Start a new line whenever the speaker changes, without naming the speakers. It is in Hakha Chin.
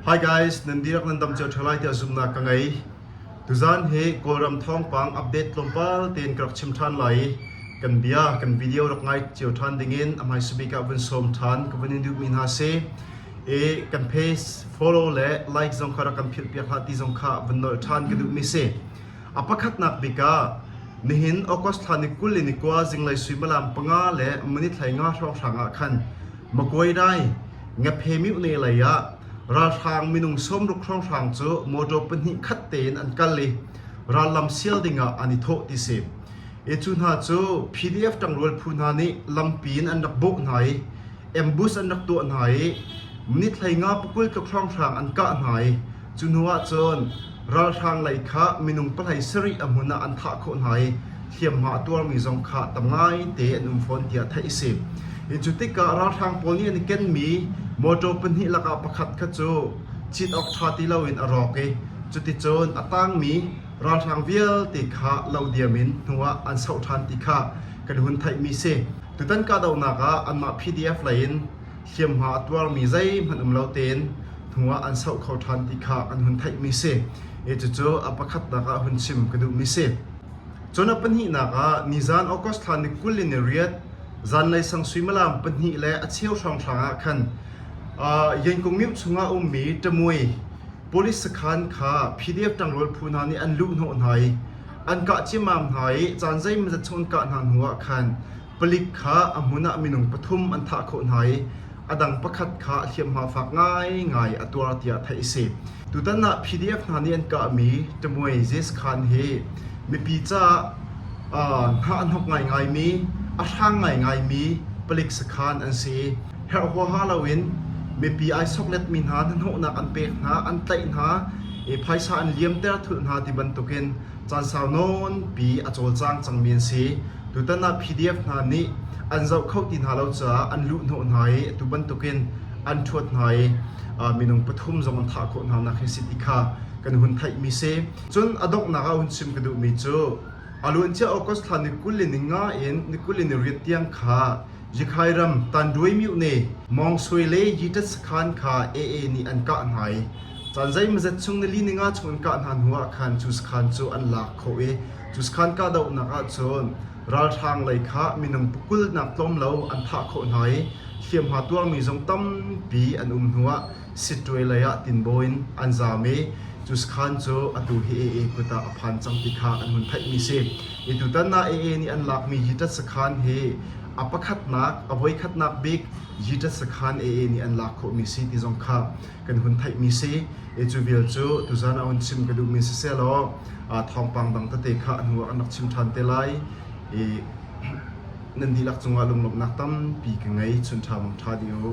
Hi guys, nan dihlak nan dam cio ṭheo lai tiah zumhnak ka ngei. Tuzaan hi Kawlram thawngpang update tlawmpal tein ka rak chim ṭhan lai i kan bia, kan video rak ngai cio ṭhan dingin a hmaisabik ah vun sawm ṭhan ka vun in duhmi hna si. I kan page follow le like zong kha rak kan philhpiak hlah ti zong kha vun nolh ṭhan ka duhmi si. A pakhatnak bik ah nihin August thla ni kul in ni kua zinglei suimilam panga le minit hlei nga hrawnghrang ah khan Makuainai, Ngaphe-Mih le lei ah ralhrang minung sawmruk hrawnghrang cu motor pahnih khat tein an kal i rallam sial dingah an i thawh ti si. Hi cu hna cu PDF ṭangrual phu hna nih lampi in an rak bawk hna i ambush an rak tuah hna i minit hleinga pakul tluk hrawnghrang an kah hna i cu hnu ahcun Ralhrang lei kha minung pahlei sarih a hmun ah an thah khawh hna i hliamhma a tuarmi zong kha tam ngaite an um fawn tiah theih a si. Hi cu tikah ralhrang pawl nih an i kenmi mawṭaw pahnih lakah pakhat kha cu cit awk ṭha ti loin a rawk i cuticun a tangmi ralhrang vialte kha lo diam in hnuah an soh ṭhan ti kha kan hun theihmi a si. Tutan kahdohnak ah anmah PDF lei in hliamhma a tuarmi zeihmanh um lo tein hnuah an soh kho ṭhan ti kha an hun theihmi si i cucu a pakhatnak ah hun chim ka duhmi si. Cun a pahnihnak ah nizan August thla ni kul in ni riat zanlei sang suimilam pahnih le a cheu hranghrang ah khan Yankung Myo chungah ummi ṭamui police sakhan kha PDF ṭangrual phu hna nih an luh hnawh hna i an kah ciamam hna i caan zeimazat chung an kah hna hnuah khan Palik kha a hmun ah minung pathum an thah khawh hna i a dang pakhat kha a hliamhma fak ngaingai a tuar tiah theih a si. Tutan ah PDF hna nih an kahmi Ṭamuai Zes Khan hi mipi caah hnah an hawk ngaingaimi, a hrang ngaingaimi palik sakhan an si. Herh huaha loin mipi ai sokletmi hna hnahnawhnak an pek hna, an tlaih hna i phaisa an liamter thulh hna ti bantukin Caansau nawnpi a cawlcang cangmi an si. Tutan ah PDF hna nih an zoh kho ti hna lo caah an luhhnawh hna i atu bantukin an ṭhuat hna i minung pathum zong an thah khawh hna nak hi si ti kha kan hun theihmi si. Cun a donghnak ah hun chim ka duhmi cu a luancia August thla nikul in ni nga in nikul in ni riat tiang kha Yikhai ram Tanduay Myone, Mawng Sui le Yiṭat sakhan kha AA nih an kah hna i Caan zeimazet chung nili ni nga chung in kah hna hnuah khan cuskhaan cu an lak khawh i cuskhaan kahdohnak ah cun ralhrang lei kha minung pukkulnak tlawm lo an thah khawh hna i hliamhma tuarmi zong tampi an um hnuah Sitwe lei ah tinbaw in an zaam i cuskhaan cu atu hi AA kut ah a phan cang ti kha an hun theihmi si. I tutan na AA nih an lakmi yitat sakhaan hi a pakhatnak, a voikhatnak bik yitat sakhaan AA nih an lak khawhmi si ti zong kha kan hun theihmi si. Cu vial cu tuzan a hun chim ka duhmi sisehlaw thawngpang dang tete kha a hnu ah kan rak chim ṭhan te lai. Nan dihlak cungah lunglawmhnak tampi ka ngei. Chun ṭha bang ṭha dih u.